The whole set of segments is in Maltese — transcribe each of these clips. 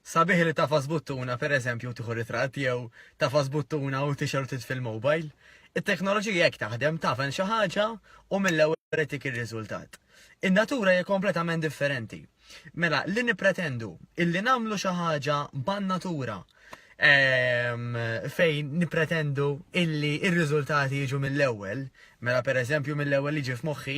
Sabiħ li tafas buttuna per eżempju u tieħu ritratt jew tafas buttuna u tixer u titfil mobile. It-teknoloġija jekk taħdem tafen xi ħaġa u mill-ewwel itik ir-riżultat. In-natura hija kompletament differenti. Mela, li nippretendu illi nagħmlu xi ħaġa ban-natura ehm, fejn nipretendu illi ir-riżultati jiġu mill-ewwel, mela pereżempju mill-ewwel jiġi f'moħħi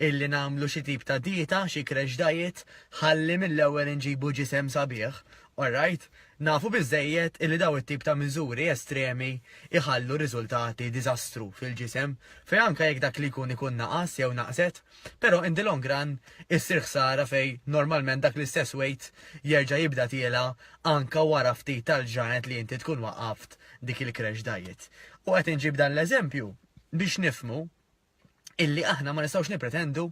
illi nagħmlu xi tip ta' dieta, xi crash diet, ħalli mill-ewwel inġibu ġisem sabiħ, alright? Nafu biżżejjed illi daw it-tip ta' miżuri estremi iħallu riżultati diżastru fil-ġisem, fejn anke jekk dak li jkun ikun naqas jew naqset, Però in the long run issir ħsara fejn normalment dak l-istess weight jerġa' jibda tiela' anke wara ftit tal-ġranet li inti tkun waqqaft dik il-crash diet. U qed inġib dan l-eżempju biex nifhmu illi aħna ma nistgħux nippretendu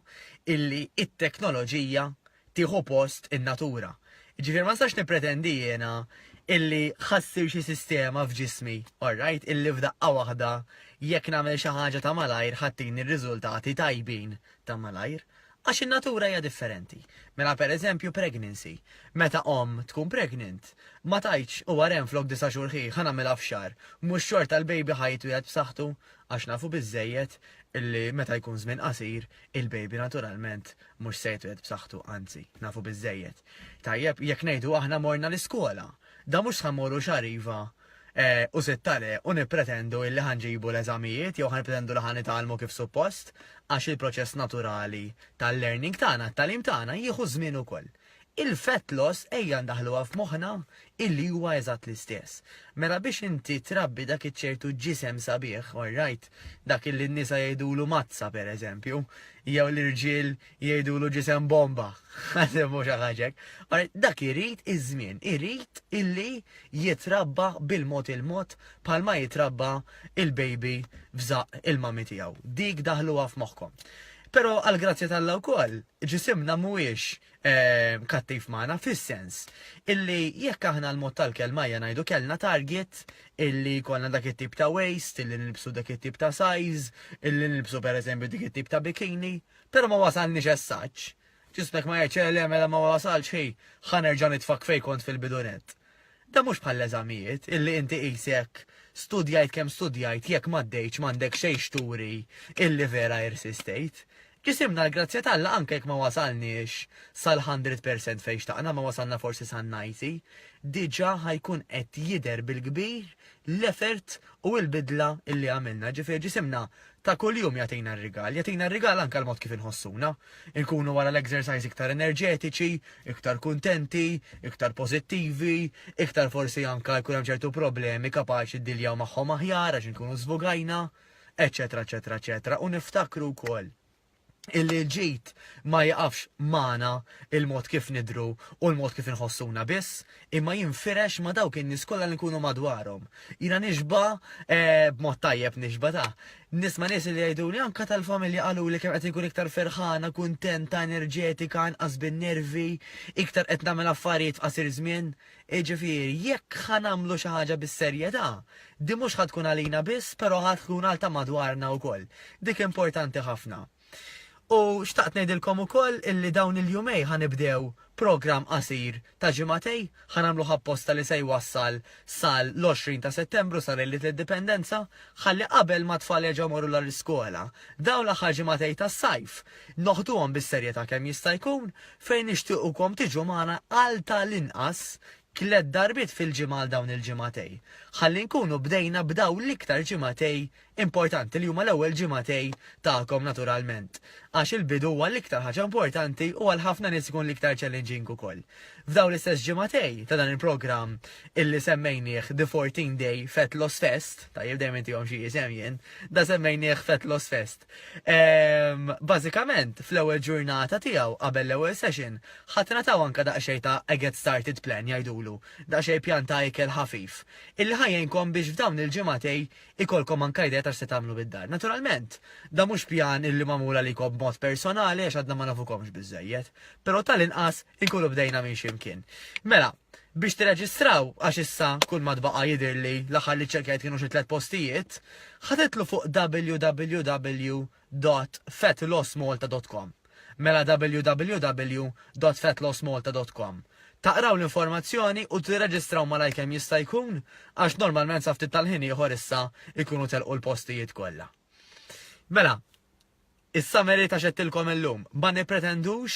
illi t-teknoloġija tieħu post in-natura. Jiġifieri ma nistax nippretendi jiena illi ħa ssir xi sistema f'ġismi, orrajt, illi f'daqqa waħda jekk nagħmel xi ħaġa ta' malajr ħa tini r-riżultati tajbin ta' malajr. Għax in-natura hija differenti. Mela pereżempju pregnancy. Meta omm tkun pregnant, ma tgħidx u wara hemm flok disa' xhur ħih ħa nagħmilha f'xahar. Mhux xorta l-baby ħa jitwieled b'saħħtu? Għax nafu biżżejjed illi meta jkun żmien qasir, il-baby naturalment Mhux sejt wieħed b'saħħtu, anzi, nafu biżżejjed. Tajjeb, jekk ngħidu aħna morna l-iskola, da mhux s'ħa mmorru xahar iva u sitta le u nippretendu illi ħa nġibu l-eżamijiet jew ħa nippretendu li ħa nitgħallmu kif suppost, għax il-proċess naturali tal-learning tagħna, t-tagħlim tagħna, jieħu ż-żmien ukoll. Il-fat loss ejja ndaħħluha f'moħħna illi huwa eżatt l-istess. Mela biex inti trabbi dak iċ-ċertu ġisem sabiħ, all right, dak illi n-nisa jgħidulu mazza per eżempju, jew l-irġiel jgħidulu ġisem bomba, ħaseb mhux għal ħaġa hekk, all right, dak irid iż-żmien, irid illi jitrabba bil-mod il-mod bħalma jitrabba il-baby f'żaqq il-mami tiegħu. Dik daħħluha f'moħħkom. Però għall-grazzja t'Alla wkoll, Ġisimna mhuwiex kattiv magħna fis-sens illi jekk aħna l-mod tal-kelma ejja ngħidu kellna target illi jkollna dak it-tip ta' waist, illi nilbsu dak it-tip ta' size, illi nilbsu pereżempju dik it-tip ta' bikini, però ma wasalniex as-saġġ. Ġismek ma jgħidx le mela ma wasalx ħi, ħa nerġa' nitfak fejn kont fil-bidu nett. Dan mhux bħall-eżamijiet, illi inti qisek studjajt kemm studjajt jekk m'għaddejtx m'għandek xejn x'turi illi vera irsistejt. Ġisimna l-grazzja t'Alla anke jekk ma wasalniex sal-hundred percent fejn xtaqna, ma wasalna forsi san-ninety, diġà ħa jkun qed jidher bil-kbir l-effort u l-bidla illi għamilna. Ġifieri ġisimna Ta' kuljum jagħtina r-rigal. Jagħtina r-rigal anke l-mod kif inħossuna. Inkunu wara l-exercise iktar enerġetiċi, iktar kuntenti, iktar pożittivi, iktar forsi anke jkun hemm ċertu problemi kapaċi ddiljaw magħhom aħjar għax inkunu żvogajna, eċċetera eċċetera eċċetera u niftakru wkoll. illi l-ġid ma jiqafx magħna il-mod kif nidhru u l-mod kif inħossuna biss, imma jinfirex ma' dawk in-nies kollha li nkunu madwarhom. Jiena nixba' b'mod tajjeb nixba' ta'. Nisma' nies illi jgħiduli, anke tal-familja qaluli kemm qed inkun iktar ferħana, kuntenta, enerġetika, inqas bin-nervi, iktar qed nagħmel affarijiet f'qasir żmien. Jiġifieri, jekk ħa nagħmlu xi ħaġa bis-serjetà, din mhux ħa tkun għalina biss, però ħa tkun għal ta' madwarna wkoll. Dik importanti ħafna. U xtaqt ngħidilkom ukoll illi dawn il-jumej ħa nibdew programm qasir ta' ġimagħtej, ħa nagħmluh apposta li se jwassal sal-20 ta' Settembru, sa lejliet l-Indipendenza, ħalli qabel ma t-tfal jerġgħu jmorru lura l-iskola, dawn l-aħħar ġimagħtej tas-sajf, noħduhom bis-serjetà kemm jista' jkun, fejn nixtiequkom tiġu magħna għal ta' l-inqas tliet darbiet fil-ġimgħa għal dawn il-ġimgħatej, ħalli nkunu bdejna b'dawn l-iktar ġimgħatej importanti li huma l-ewwel ġimgħatej tagħkom naturalment, għax il-bidu huwa l-iktar ħaġa importanti u għal ħafna nies ikun l-iktar challenging ukoll. F'dawn l-istess ġimgħatej ta' dan il-programm illi semmejnieh The 14 Day Fat Loss Fest, tajjeb dejjem intihom xi isem jien, da semmejnieh Fat Loss Fest, Ehm, bażikament, fl-ewwel ġurnata tiegħu qabel l-ewwel session, ħadd nataw anka daqsxejn ta' a get started plan jgħidulu, daqsxejn pjan ta' ikel ħafif, illi ħajjinkom biex f'dawn il-ġimgħatej ikolkom anka idea ta' x'se tagħmlu bid-dar. Naturalment, da mhux pjan illi magħmul għalikom b'mod personali għax għadna ma nafukomx biżżejjed, però tal-inqas Inkunu bdejna minn ximkien. Mela, biex tirreġistraw għax issa kull ma tbaqa' jidhirli l-aħħar li ċċekkjajt kienu xi tliet postijiet, ħa titlu fuq www.fatlossmalta.com. Mela www.fatlossmalta.com. Taqraw l-informazzjoni u tirreġistraw malajr kemm jista' jkun għax normalment sa ftit tal-ħin ieħor issa jkunu telqu l-postijiet kollha. Mela, Is-summary ta' x'għedtilkom illum, ma nippretendux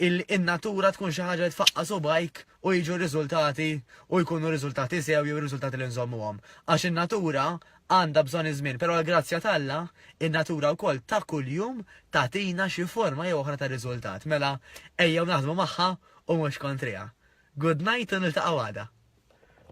illi in-natura tkun xi ħaġa li tfaqqa' subgħajk u jiġu r-riżultati u jkunu riżultati sew jew riżultati li nżommuhom. Għax in-natura għandha bżonn iż-żmien, però għall-grazzja t'Alla, in-natura wkoll ta' kuljum tagħtina xi forma jew oħra ta' riżultat. Mela, ejjew naħdmu magħha u mhux kontriha. Good night u niltaqgħu għada.